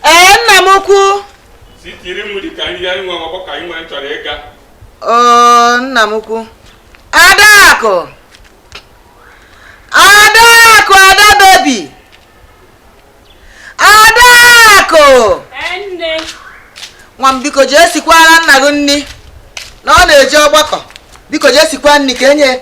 ee nna m ukwu oo nna m ukwu adaakụ adaakụ ada baby adaakụ nwa m biko jee sikwara nna gị nni na ọ na-eje ọgbakọ biko jee sikwa nni ka e nye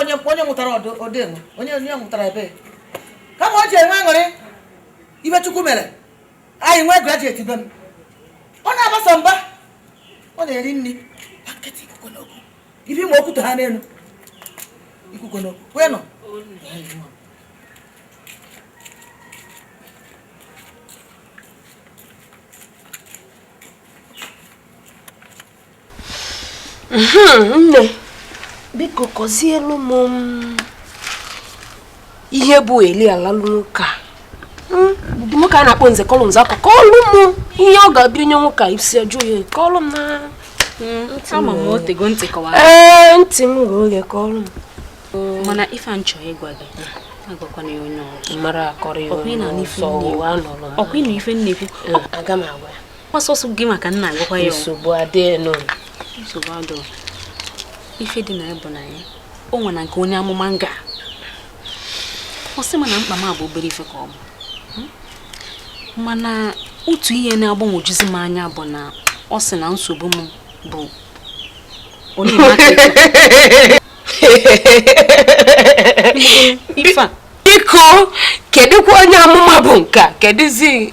onye onye mụtara ọdụ enwe onye onye mụtara ebe kama o ji enwe aṅụrị ife chukwu mere anyị nwee graduate be m ọ na-agbasa mba ọ na-eri nni ibi ma okwute ha n'elu ikuku n'okwu kwee nọ nne biko kọzielu m mm, ihe bụ eli alalụ nwoke a hmm? nwoke a na-akpọ nze kọlụ m nze akọ kọlụ m ihe ọ ga-abịa onye nwoke a isi ajụ ya kọlụ m na hmm, ee ntị m ghe oghe kọlụ m mana ife m chọ ịgwa gị agwakwana ya onye ọzọ ọ kwa ị nụ ife m na-ekwu hmm. aga m agwa ya ọ sọsọ gị maka m na-agwakwa ya nsogbu adịghị nọ nsogbu adọ ife dị na ya bụ na ya o nwere na nke onye amụma m ga ọ sị m na mkpa m a bụ obere ife ka ọ bụ hmm? mana otu ihe na-agbanwojuzi m anya bụ na ọ sị na nsogbu m bụ onye biko kedụkwa onye amụma bụ nke a kedụzi